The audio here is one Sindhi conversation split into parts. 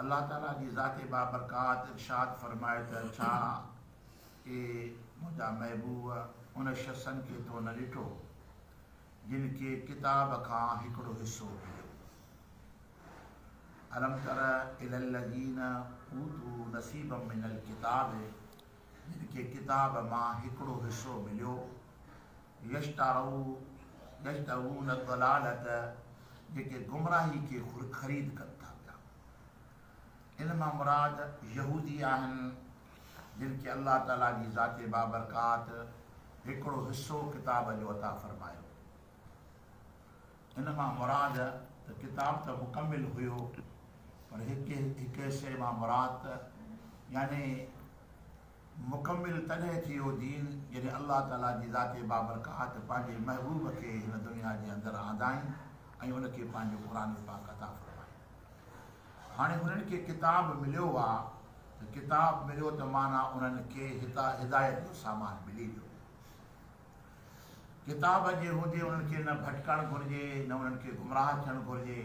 الله تعاليٰ جي ذات بابرڪات ارشاد فرمائي ته ڇا اي منهنجا محبوب ان شخصن کي تو نه ڏٺو جن کي ڪتاب کان هڪڙو حصو مليو الم تر الى الذين اوتو نصيب من الكتاب جن کي ڪتاب مان هڪڙو حصو مليو يشترون يشترون الضلالة جيڪي گمراهي کي خريد ڪن ٿا پيا ان مان مراد يهودي آهن جن کي الله تعالي جي ذات بابرڪات هڪڙو حصو ڪتاب جو عطا فرمايو ان مان مراد ته ڪتاب ته مڪمل هيو پر هڪ هڪ حصي مان مراد ته يعني مڪمل تڏهن ٿي اهو دين، جڏهن الله تعاليٰ جي ذات بابرڪات پنهنجي محبوب کي هن دنيا جي اندر آندائين ۽ ان کي پنهنجو قرآن پاڪ عطا فرمائين. هاڻي انهن کي ڪتاب مليو آ ته ڪتاب مليو ته معنيٰ انهن کي هدايت جو سامان ملي ويو. ڪتاب جي هوندي انهن کي نه ڀٽڪڻ گهرجي نه انهن کي گمراهه ٿيڻ گهرجي.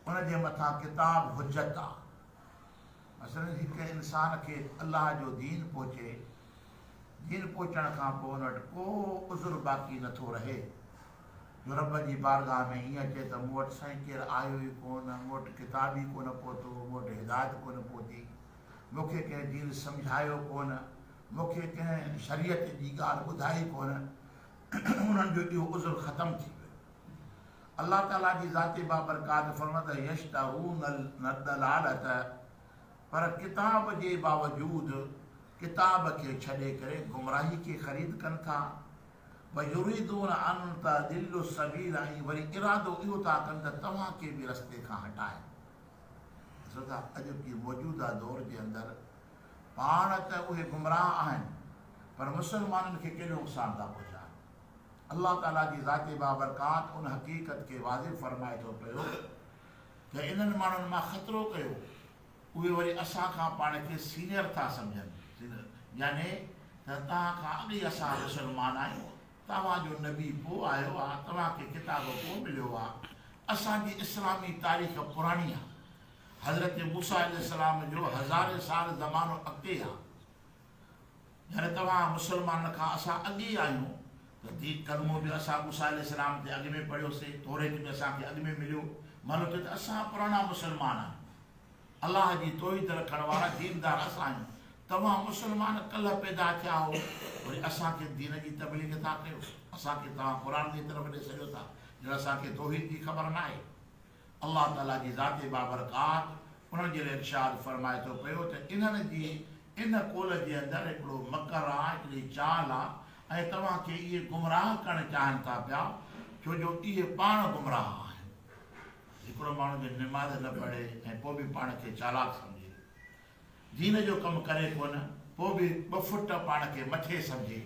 ان جي مٿان ڪتاب حجت آ. مثلاً هڪ انسان کي الله جو دين پهچي، دين پهچڻ کان پوء ان وٽ ڪو عذر باقي نه ٿو رهي جو رب جي بارگاهه ۾ ائين اچي ته مون وٽ سائين ڪير آيو ئي ڪونه، مون وٽ ڪتاب ئي ڪونه پهتو، مون وٽ هدايت ڪونه پهتي، مون کي ڪنهن دين سمجهايو ڪونه، مون کي ڪنهن شريعت جي ڳالهه ٻڌائي ڪونه، انهن جو اهو عذر ختم ٿي ويو. الله تعاليٰ جي ذات بابرڪات فرمائي ٿو يشتهون الضلالة پر ڪتاب جي باوجود ڪتاب کي ڇڏي ڪري گمراهي کي خريد ڪن ٿا ويريدون ان تضلوا السبيل ۽ وري ارادو اهو ٿا ڪن ته توهان کي به رستي کان هٽائين ڏسو ٿا اڄ ڪي موجوده دور جي اندر پاڻ ته اهي گمراهه آهن پر مسلمانن کي ڪيڏو نقصان ٿا پهچائن الله تعاليٰ جي ذات بابرڪات ان حقيقت کي واضح فرمائي ٿو پيو ته انهن ماڻهن مان خطرو ڪيو، اهي وري اسان کان پاڻ کي سينئر ٿا سمجهن، يعني ته توهان کان اڳ ئي اسان مسلمان آهيون، توهان جو نبي پوء آيو آ، توهان کي ڪتاب پوء مليو آ، اسان جي اسلامي تاريخ پراڻي آ، حضرت موسيٰ عليه السلام جو هزارين سال زمانو اڳتي آ، جڏهن توهان مسلمانن کان اسان اڳي آهيون، تصديق ڪلمو به اسان موسيٰ عليه السلام تي اڳ ۾ پڙهيوسين، توريت به اسان کي اڳ ۾ مليو، معنيٰ ته اسان پراڻا مسلمان آهيون. الله جي توحيد رکڻ وارا ديندار اسان آهيون، توهان مسلمان ڪلهه پيدا ٿيا هئو، وري اسان کي دين جي تبليغ ٿا ڪيو، اسان کي توهان قرآن جي طرف ڏي سڏيو ٿا، ڄڻ اسان کي توحيد جي خبر ناهي. الله تعاليٰ جي ذات بابرڪات انهن جي لاء ارشاد فرمائي ٿو پيو ته انهن جي ان قول جي اندر هڪڙو مڪر آ، هڪڙي چال آ ۽ توهان کي اهي گمراهه ڪرڻ چاهن ٿا پيا ڇو جو اهي پاڻ گمراهه آهن. هڪڙو ماڻهو جي نماز نه پڙهي ۽ پوء به پاڻ کي چالاڪ سمجهي، دين جو ڪم ڪري ڪونه، پوء به ٻه فٽ پاڻ کي مٿي سمجهي،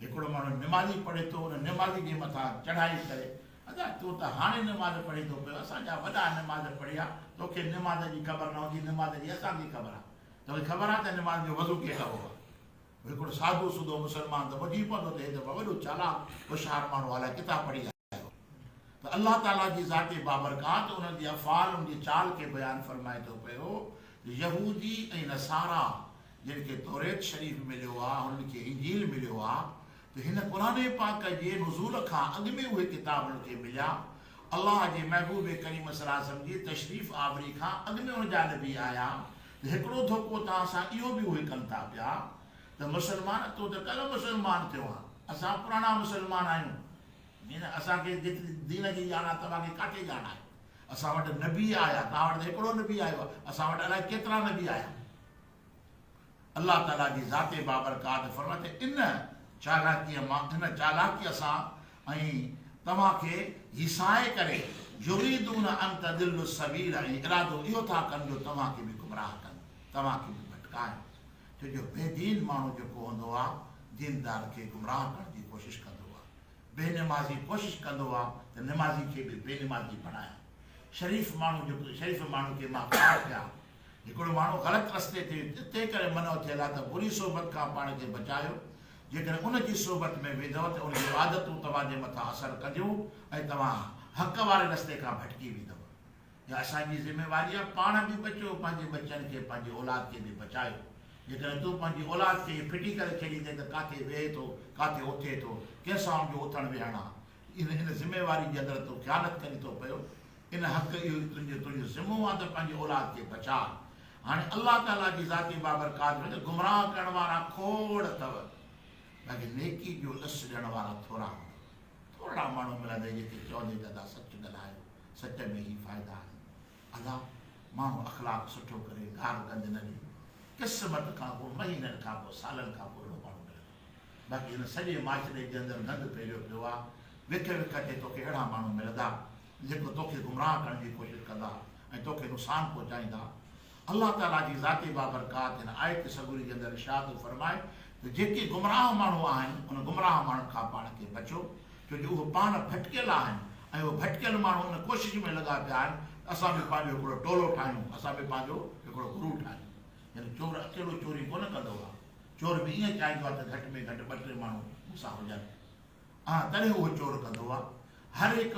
هڪڙو ماڻهو نمازي پڙهي ٿو ان نمازي جي مٿان چڙهائي ڪري ادا تون ته هاڻي نماز پڙهين ٿو پيو اسان جا وڏا نماز پڙهيا توکي نماز جي خبر نه هوندي نماز جي اسان کي خبر آهي توکي خبر آهي ته نماز جو وضو ڪيئن ڪبو آهي هڪڙو سادو سودو مسلمان ته ٻڌي پوندو ته هي ته وڏو چالاڪ هوشيار ماڻهو الاء ڪٿان پڙهي آيو. ته الله تعالي جي ذات بابرڪات انهن جي افعال انهن جي چال کي بيان فرمائي ٿو پيو ته يهودي ۽ نصارا جن کي توريت شريف مليو آهي هنن کي انجيل مليو آهي ته هن قرآن پاڪ جي نزول کان اڳ ۾ اهي ڪتاب انهن کي مليا الله جي محبوب ڪريم صلي وسلم جي تشريف آوري کان اڳ ۾ ان جا نبي آيا ته هڪڙو ڌوڪو توهان سان اهو به اهي ڪن ٿا پيا ته مسلمان تون ته ڪلهه مسلمان ٿيو آهين اسان پراڻا مسلمان آهيون هن اسان کي جيتري دين جي ڄاڻ آهي، توهان کي ڪاٿي ڄاڻ آهي؟ اسان وٽ نبي آيا، توهان وٽ ته هڪڙو نبي آيو آهي، اسان وٽ الائي ڪيترا نبي آيا آهن. الله تعاليٰ جي ذات بابرڪات فرمائي ٿي، ان چالاڪيء مان، ان چالاڪيء سان، ۽ توهان کي هيسائي ڪري، يريدون ان تضلوا السبيل، ۽ ارادو اهو ٿا ڪن جو توهان کي به گمراهه ڪن، توهان کي به ڀٽڪائن. ڇو جو بي دين ماڻهو جيڪو هوندو آ، ديندار کي گمراهه ڪرڻ جي ڪوشش ڪندو آ. بي نمازي ڪوشش ڪندو آ ته نمازي کي به بي نماز ئي بڻايان. شريف ماڻهو جيڪو شريف ماڻهو کي مان کار ٿيا. هڪڙو ماڻهو غلط رستي تي تنهنڪري منع ٿيل آ ته بري صحبت کان پاڻ کي بچايو. جيڪڏهن ان جي صحبت ۾ ويندؤ ته ان جون عادتون توهان جي مٿان اثر ڪنديون ۽ توهان حق واري رستي کان ڀٽڪي ويندؤ. اها اسان جي ذميواري آهي پاڻ به بچو پنهنجي ٻچن کي پنهنجي اولاد کي به بچايو جيڪڏهن تون پنهنجي اولاد کي ائين ڦٽي ڪري ڇڏيندين ته ڪاٿي ويهي ٿو ڪاٿي اٿي ٿو ڪنهن سان ان جو اٿڻ ويهڻ آهي ان ان ذميواري جي اندر تو خيانت ڪري ٿو پيو ان حق اهو ئي تنهنجو تنهنجو ذمو آهي ته پنهنجي اولاد کي بچاء هاڻي الله تعالي جي ذاتي بابرڪات ۾ ته گمراهه ڪرڻ وارا کوڙ اٿو باقي نيڪي جو ڏس ڏيڻ وارا ٿورا هوندو ٿورڙا ماڻهو ملندئي جيڪي چوندئي ته ادا سچ ڳالهايو سچ ۾ هي فائدا آهن ادا ماڻهو اخلاق سٺو ڪري گار گند نه ڏي قسمت کان ڪو مهينن کان ڪو سالن کان ڪو اهڙو ماڻهو ملندو باقي هن سڄي معاشري جي اندر گند ڦهليو پيو آهي وک وک تي توکي اهڙا ماڻهو ملندا جيڪو توکي گمراهه ڪرڻ جي ڪوشش ڪندا ۽ توکي نقصان پهچائيندا. الله تعاليٰ جي ذاتي بابرڪات هن آيت سڳوري جي اندر ارشاد ٿو فرمائي ته جيڪي گمراهه ماڻهو آهن ان گمراهه ماڻهن کان پاڻ کي بچو ڇو جو اهي پاڻ ڀٽڪيل آهن ۽ اهي ڀٽڪيل ماڻهو ان ڪوشش ۾ لڳا پيا آهن ته اسان به پنهنجو هڪڙو ٽولو ٺاهيون، اسان به پنهنجو هڪڙو گروهه ٺاهيون. يعني چور اڪيلو چوري ڪونه ڪندو آهي. چور به ائين چاهيندو آهي ته گهٽ ۾ گهٽ ٻه ٽي ماڻهو مون سان هجن. آ تڏهن اهو چور ڪندو آ. هر هڪ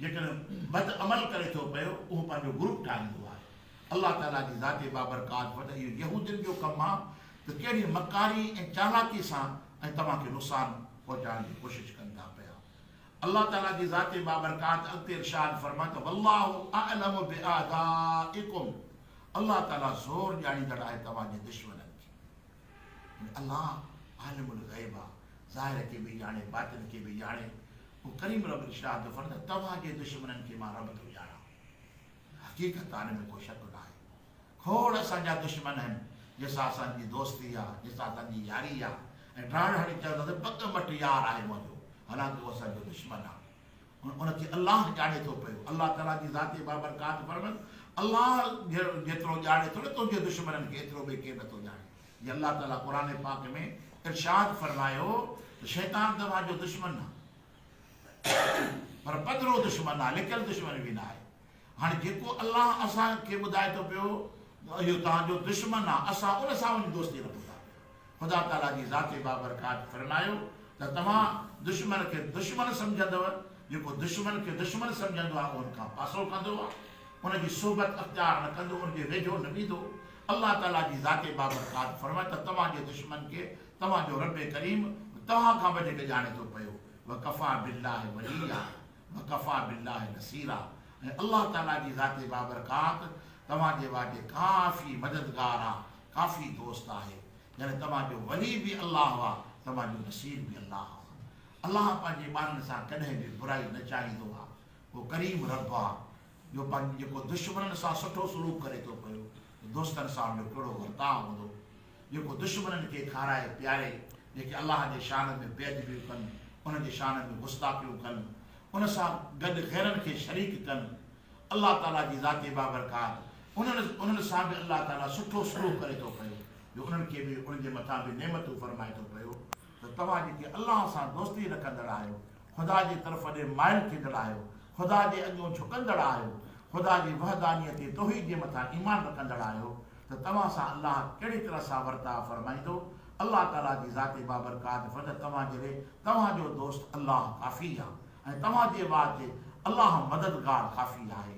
جيڪڏهن بد عمل ڪري ٿو پيو اهو پنهنجو گروپ ٺاهيندو آهي. الله تعاليٰ جي ذات بابرڪات وٽ اهو يهودين جو ڪم آ ته ڪهڙي مڪاري ۽ چالاڪي سان ۽ توهان کي نقصان پهچائڻ جي ڪوشش ڪن ٿا پيا. الله تعاليٰ جي ذات بابرڪات اڳتي ارشاد فرمائي ته والله اعلم باعدائڪم الله تعاليٰ زور ڄاڻيندڙ آهي توهان جي دشمنن جي. الله عالم الغيب آ، ظاهر کي به ڄاڻي، باطن کي به ڄاڻي. پوء ڪريم رب ارشاد ٿو فرمائي ته توهان جي دشمنن کي مان رب ٿو ڄاڻان. حقيقت آ ان ۾ ڪو شڪ ناهي. کوڙ اسان جا دشمن آهن جنهن سان اسان جي دوستي آ، جنهن سان اسان جي ياري آ ۽ ڊاڙ هڻي چونداسين پڳ مٽ يار آهي منهنجو حالانڪه هو اسان جو دشمن آ. ۽ ان کي الله ڄاڻي ٿو پيو. الله تعاليٰ جي ذاتي بابرڪات فرمن، الله جيترو ڄاڻي ٿو نه تنهنجي دشمنن کي ايترو ٻئي ڪير نه ٿو ڄاڻي. جي الله تعاليٰ قرآن پاڪ ۾ ارشاد فرمايو ته شيطان توهان جو دشمن نه پر پڌرو دشمن آهي، لڪل دشمن به نه آهي. هاڻي جيڪو الله اسان کي ٻڌائي ٿو پيو ته اهو توهان جو دشمن آهي، اسان ان سان وڃي دوستي رکون ٿا پيا. خدا تعاليٰ جي ذات بابرڪات فرمايو ته توهان دشمن کي دشمن سمجهندؤ، جيڪو دشمن کي دشمن سمجهندو آهي اهو ان کان پاسو ڪندو آهي، ان جي صحبت اختيار نه ڪندو، ان جي ويجهو نه ويندو. الله تعاليٰ جي ذات بابرڪات فرمايو ته توهان جي دشمن کي توهان جو ربّ ڪريم توهان کان وڌيڪ ڄاڻي ٿو پيو، وڪفٰي بالله وليّا. وڪفٰي بالله نصيرا ۽ الله تعاليٰ جي ذات بابرڪات توهان جي واجهه ڪافي مددگار آ، ڪافي دوست آهي. يعني توهان جو ولي به الله آ، توهان جو نصير به الله آ. الله پنهنجي ٻانهن سان ڪڏهن به برائي نه چاهيندو آ. هو ڪريم رب آ. جو پنهنجي جيڪو دشمنن سان سٺو سلوڪ ڪري ٿو پيو ته دوستن سان ان جو ڪهڙو ورتاء هوندو؟ جيڪو دشمنن کي کارائي پياري، جيڪي الله جي شان ۾ بي ادبيون ڪن، ان جي شان ۾ گستاخيون ڪن، ان سان گڏ غيرن کي شريڪ ڪن، الله تعاليٰ جي ذات بابرڪات انهن انهن سان به الله تعاليٰ سٺو سلوڪ ڪري ٿو پيو جو انهن کي به ان جي مٿان به نعمتون فرمائي ٿو پيو. ته توهان جيڪي الله سان دوستي رکندڙ آهيو، خدا جي طرف ڏي مائل ٿيندڙ آهيو، خدا جي اڳيون جهڪندڙ آهيو، خدا جي وحدانيت ۽ توحيد جي مٿان ايمان رکندڙ آهيو ته توهان سان الله ڪهڙي طرح سان ورتاء فرمائيندو؟ الله تعاليٰ جي ذات بابرڪات فقط توهان جي لئه توهان جو دوست الله ڪافي آهي ۽ توهان جي واچ الله مددگار ڪافي آهي